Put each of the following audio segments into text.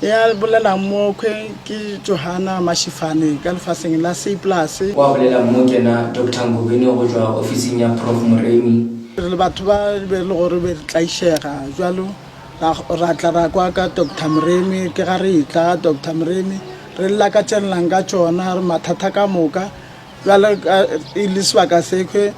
Ya bolelang mo khwe ke Johana Mashifane ka lefaseng la Seiplus. Wa bolelang mo ke na Doctor Ngobeni go tšwa ofising ya Prof Moremi. Re le batho ba be le gore be re tlaišega jwalo ra ra tla ra kwa ka Doctor Moremi ke ga re tla ga Doctor Moremi re lla ka tšenelang ka tšona re mathata ka moka jwale e le sebaka sekhwe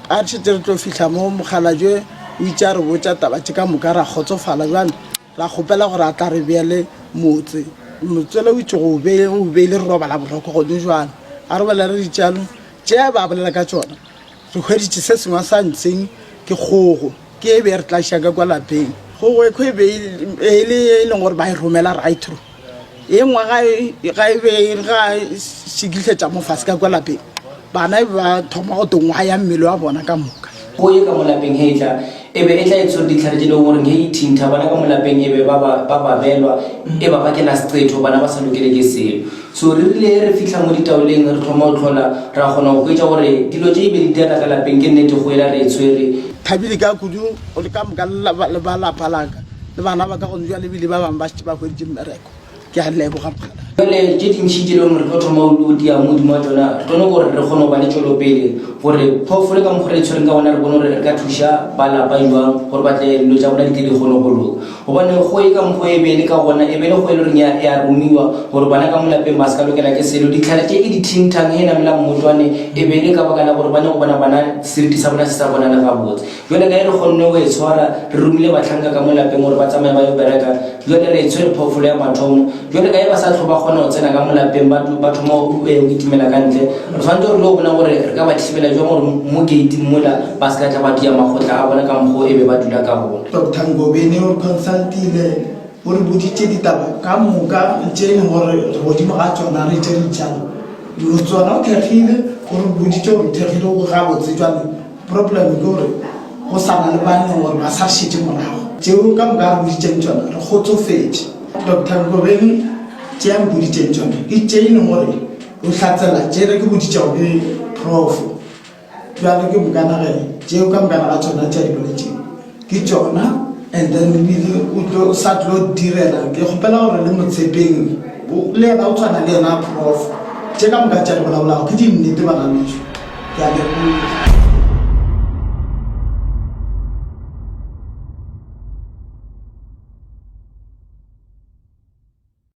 a re šetse re tlo fihla mo mokgalajwe o itse a re botša taba tše ka moka ra kgotsofala jwale Ra kgopela gore a tla re beele motse. Motswele o itše go o be o beile re robala boroko gone jwale. A re bolela ditšeano tše a be a bolela ka tšona, re hweditše se sengwe a sa ntseng ke kgogo, ke e be e re tlašiša ka kwa lapeng. Kgogo ekho e be e le e leng gore ba e romela Rytro. ye nngwe ga e- ga e be e re ga e šikihletša mofase ka kwa lapeng bana e be ba thoma go tongwaya mmele wa bona ka moka go ye ka mo lapeng he e tla e be e tla e tshwere ditlhare tše le goreng he e thintha bana ka mo lapeng e be ba ba ba babelwa e ba bakela seqetho bana ba sa lokele ke selo so re rile he re fihla mo ditaoleng re thoma go tlhola ra kgona go hwetša gore dilo tše e be di teata ka lapeng ke nnete go ela re e tshwere Thabile ka kudu o le ka moka le laba- le ba lapa laka. le bana ba ka gone jwa lebile ba bangwe ba šetse ba hweditše mmereko ke a leboga mokgala jale tše dintšhi tše leng gore tlo thoma o dia mo godimo wa tsona re tlo gore re kgone go ba le tšwelopele gore phoofolo ka mokgwa re e tshwereng ka gona re bone gore re ka thuša ba lapa jwang gore ba tle dilo tsa bona di tle di kgone go loka gobane go e ka mokgwa e bele ka gona e bele go e le goreng e a romiwa gore bana ka molapeng ba se ka lokela ke selo ditlhare tše e di thintang e namelang motwane e bele ka baka la gore ba ne go bona bana seriti sa bona se sa bonale gabotse Bjale ka ge re kgonne go e tshwara, re romile bahlanka ka mo lapeng gore ba tsamaye ba yo bereka. Bjale re e tshwere phoofolo ya mathomo. Bjale ka ge ba sa hlwe ba kgona go tsena ka mo lapeng, ba, ba thoma go eh, kitimela ka ntle. Re swanetše gore re yo bona gore re ka ba thibela bjang gore mo gate-ing mola ba se ka tla ba tia makgotla a bona ka mokgwa o e be ba dula ka gona. Doctor Ngobeni o re consultile, o re boditše ditaba ka moka tše e leng gore re godimo ga tsona re tše re di tšala dilo tsona. O thekgile, o re boditše gore o thekgile, o gabotse bjale. Problem ke gore go sa na le banne gore ba sa šetše morago. Tšeo ka moka a re boditšeng tšona re kgotsofetše. Doctor Nkobeni, Tše a mpoditšeng tšona ke tše e leng gore o hlatsela tše ne ke boditšego ke Prof. Bjale ke moka nageng tšeo ka moka ga tšona tše a di boletšego. ke tšona and then ebile o tlo sa tlo direla ke kgopela gore le motshepeng le ena o tshwana le ena prof tše ka moka tša le bolabolago ke dinnete bana beso ke a leboga